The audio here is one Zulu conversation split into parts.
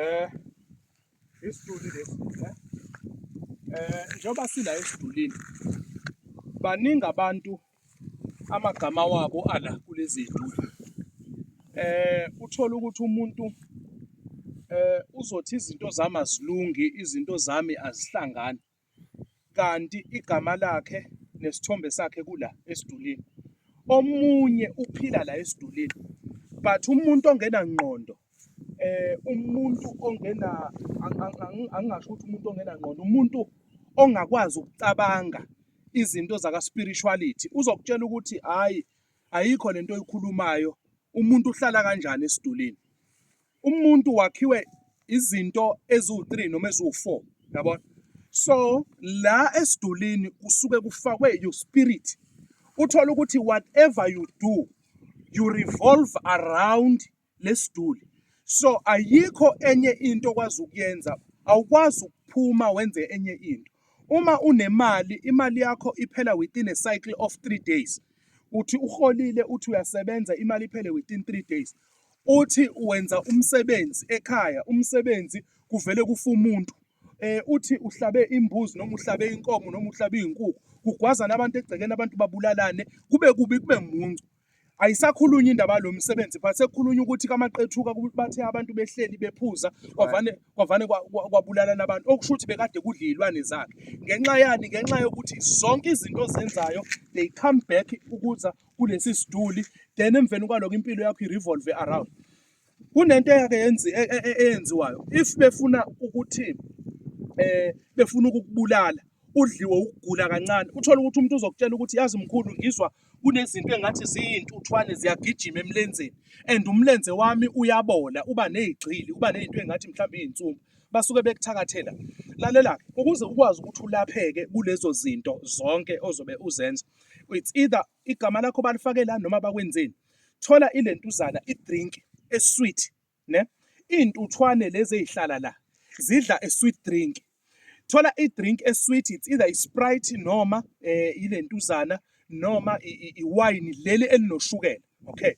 Eh isiduli lesi eh, eh njengoba sila esidulini baningi abantu amagama wabo ala kulezi zinto eh uthola ukuthi umuntu eh uzothi izinto zami azilungi izinto zami azihlangani kanti igama lakhe nesithombe sakhe kula esidulini. Omunye uphila la esidulini but umuntu ongena ngqondo eh umuntu ongena angingasho ukuthi umuntu ongena ngqondo umuntu ongakwazi ukucabanga izinto zaka spirituality uzokutshela ukuthi hayi ayikho lento oyikhulumayo umuntu uhlala kanjani esidulini umuntu wakhiwe izinto eziwu-3 noma eziwu-4 yabona so la esidulini kusuke kufakwe your spirit uthola ukuthi whatever you do you revolve around lesiduli so ayikho enye into okwazi ukuyenza awukwazi ukuphuma wenze enye into uma unemali imali yakho iphela within a cycle of 3 days uthi uholile uthi uyasebenza imali iphele within 3 days Uthi wenza umsebenzi ekhaya, umsebenzi kuvele kufa umuntu. Eh uthi uhlabe imbuzi noma uhlabe inkomo noma uhlabe izinkukhu, kugwazana abantu egcekeni abantu babulalane, kube kubi kube muncu. Ayisakhulunywa indaba yalo msebenzi but sekukhulunywa ukuthi kamaqethuka bathe abantu behleli bephuza kwavane kwavane kwabulalana abantu okusho ukuthi bekade kudla izilwane zakhe. Ngenxa yani ngenxa yokuthi zonke izinto ozenzayo they come back ukuza kulesi siduli then emveni kwaloko impilo yakho i-revolve around kunento eyake e, e, e, eyenziwayo if befuna ukuthi eh befuna ukukubulala udliwe ukugula kancane uthola ukuthi umuntu uzokutshela ukuthi yazi mkhulu ngizwa kunezinto engathi ziyintuthwane ziyagijima emlenzeni and umlenze wami uyabola uba nezigxili uba nezinto engathi mhlawumbe izinsumbu basuke bekuthakathela lalela-ke ukuze ukwazi ukuthi ulapheke kulezo zinto zonke ozobe uzenza it's either igama lakho balifake la noma bakwenzeni thola ilentuzana idrink esweet ne intuthwane lezi ezihlala la zidla a sweet drink thola i drink a sweet it's either i sprite noma eh ilentuzana noma i wine leli elinoshukela okay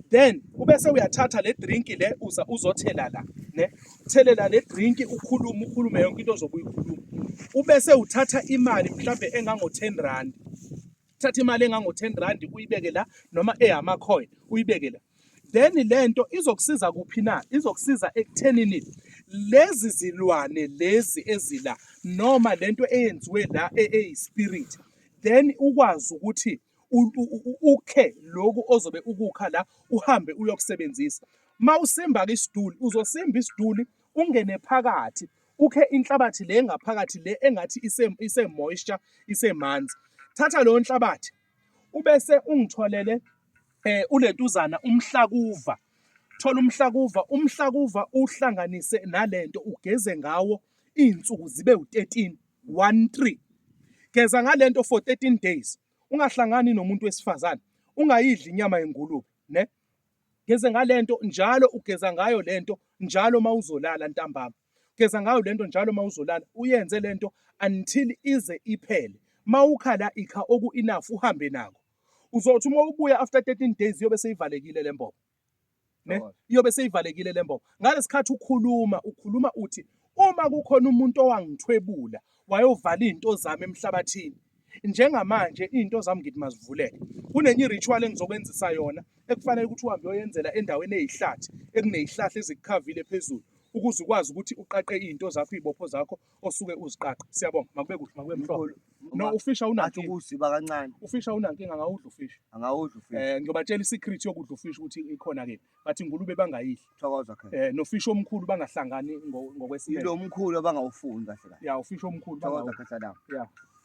then ubese uyathatha le drink le uza uzothela la ne thelela le drink ukhulume ukhulume yonke into ozobe uyikhuluma ubese uthatha imali mhlambe engango 10 rand thatha imali engango 10 rand uyibeke la noma eyama coin uyibeke la then lento izokusiza kuphi na izokusiza ekuthenini lezi zilwane lezi ezila noma lento eyenziwe la eyispirit then ukwazi ukuthi ukhe loku ozobe ukukha la uhambe uyokusebenzisa. Uma usimba-ke isiduli, uzosimba isiduli ungene phakathi ukhe inhlabathi le engaphakathi le engathi ise-moisture isemanzi. Thatha leyo nhlabathi ubese ungitholele um eh, ulentuzana umhlakuva thola umhlakuva umhlakuva uhlanganise nalento ugeze ngawo iy'nsuku zibe u-13 13 geza ngale nto for 13 days ungahlangani nomuntu wesifazane ungayidli inyama yengulube ne geze ngale nto njalo ugeza ngayo le nto njalo uma uzolala ntambama geza ngayo le nto njalo uma uzolala uyenze le nto until ize iphele uma ukhala ikha oku-enough uhambe nako uzothi uma ubuya after 13 days iyobe seyivalekile le mbobo ne iyobe seyivalekile lembobo ngalesikhathi ukhuluma ukhuluma uthi uma kukhona umuntu owangithwebula wayovala izinto zami emhlabathini njengamanje izinto zami ngithi mazivuleke kunenye iritual engizokwenzisa yona ekufanele ukuthi uhambe uyoyenzela endaweni eyihlathi ekuneyihlahla ezikukhavile phezulu ukuze ukwazi ukuthi uqaqe izinto zakho izibopho zakho osuke uziqaqa siyabonga makube kuhle makube mhlophe no ufisha unankinga ukuziba kancane ufisha unankinga ngawudla ufisha angawudla ufisha eh ngiyobatshela isecret yokudla ufisha ukuthi ikhona ke bathi ingulube bangayidli thokoza ke eh nofisha omkhulu bangahlangani ngokwesinye lo mkhulu abangawufuni kahle kahle ya ufisha omkhulu thokoza kahle la ya